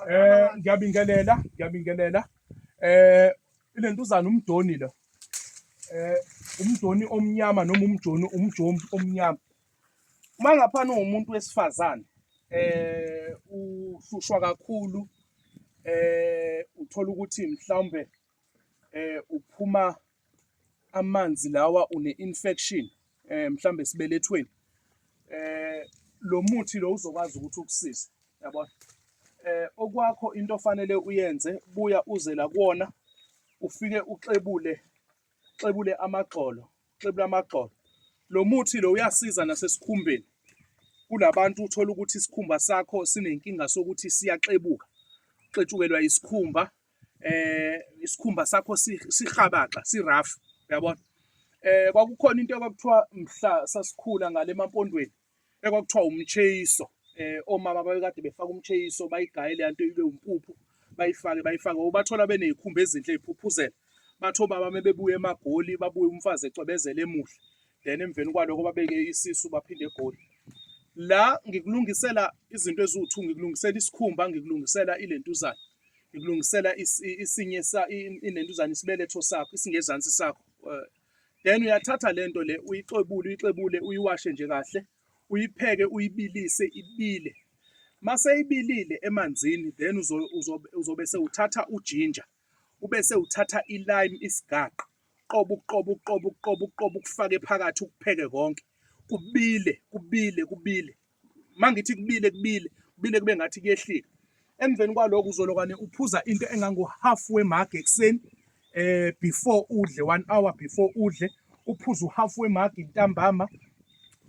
Eh ngiyabingelela ngiyabingelela eh ilentuzana umdoni lo eh umdoni omnyama noma umjoni umjomi omnyama uma ngaphana umuntu wesifazane eh uhlushwa kakhulu eh uthola ukuthi mhlawumbe eh uphuma amanzi lawa une infection eh mhlambe esibelethweni eh lo muthi lo uzokwazi ukuthi ukusize yabona eh okwakho into ofanele uyenze buya uze la kuona ufike uxebule xebule amagxolo xebule amagxolo lo muthi lo uyasiza nasesikhumbeni kulabantu uthola ukuthi isikhumba sakho sinenkinga sokuthi siyaxebuka xetshukelwa isikhumba eh isikhumba sakho sihabaxa sirough uyabona eh kwakukhona into kwakuthiwa mhla sasikhula ngale mampondweni ekwakuthiwa umcheyiso eh omama babekade befaka umcheyiso bayigaye le nto ibe umpuphu bayifake bayifake ubathola benezikhumba ezinhle eziphuphuzela batho baba mebebuya emagoli babuye umfazi ecwebezela emuhle then emveni kwaloko babeke isisu baphinde egoli la ngikulungisela izinto eziwu-two ngikulungisela isikhumba ngikulungisela ilentuzana ngikulungisela isinye inentuzana isibeletho sakho isingezansi sakho eh, then uyathatha le nto le uyixebule uyixebule uyiwashe nje kahle uyipheke uyibilise ibile mase ibilile emanzini then uzobe sewuthatha ujinja ube sewuthatha ilime isigaqa uqobo uqobo uqobo uqobo uqobo ukufake phakathi ukupheke konke kubile kubile kubile mangithi kubile kubile kubile kube ngathi kuyehlika emveni kwaloko uzolokwane uphuza into engango half we mug ekuseni eh before udle one hour before udle uphuza uhalf we mug intambama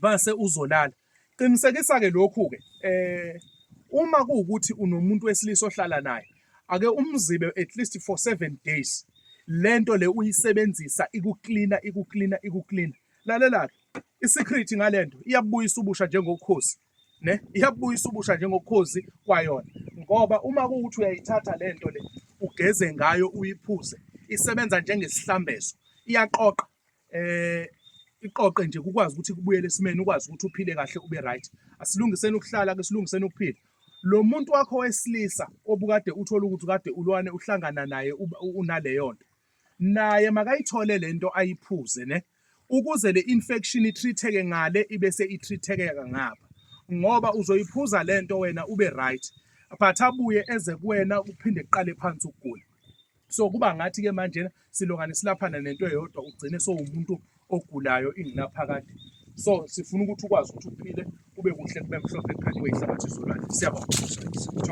base uzolala Qinisekisa-ke lokhu-ke eh uma kuwukuthi unomuntu wesilisa ohlala naye ake umzibe at least for seven days lento le uyisebenzisa ikuklina ikuklina ikuklina lalela-ke i-secret ngalento iyabuyisa ubusha njengokhozi ne iyabuyisa ubusha njengokhozi kwayona ngoba uma kuwukuthi uyayithatha lento le ugeze ngayo uyiphuze isebenza njengesihlambezo iyaqoqa eh iqoqe nje kukwazi ukuthi kubuyele esimeni ukwazi ukuthi uphile kahle ube right asilungiseni ukuhlala ke silungiseni ukuphila lo muntu wakho wesilisa obukade uthola ukuthi kade ulwane uhlangana naye unaleyo nto naye makayithole lento ayiphuze ne ukuze le infection itreateke ngale ibe se itreateke ngapha ngoba uzoyiphuza lento wena ube right but abuye eze kuwena uphinde kuqale phansi ukugula so kuba ngathi ke manje silokane silaphana nento eyodwa ugcine sowumuntu ogulayo ingunaphakade so sifuna ukuthi ukwazi ukuthi uphile kube kuhle kube mhlophe ekhanda kweyihlabathi izolwandle siyabonga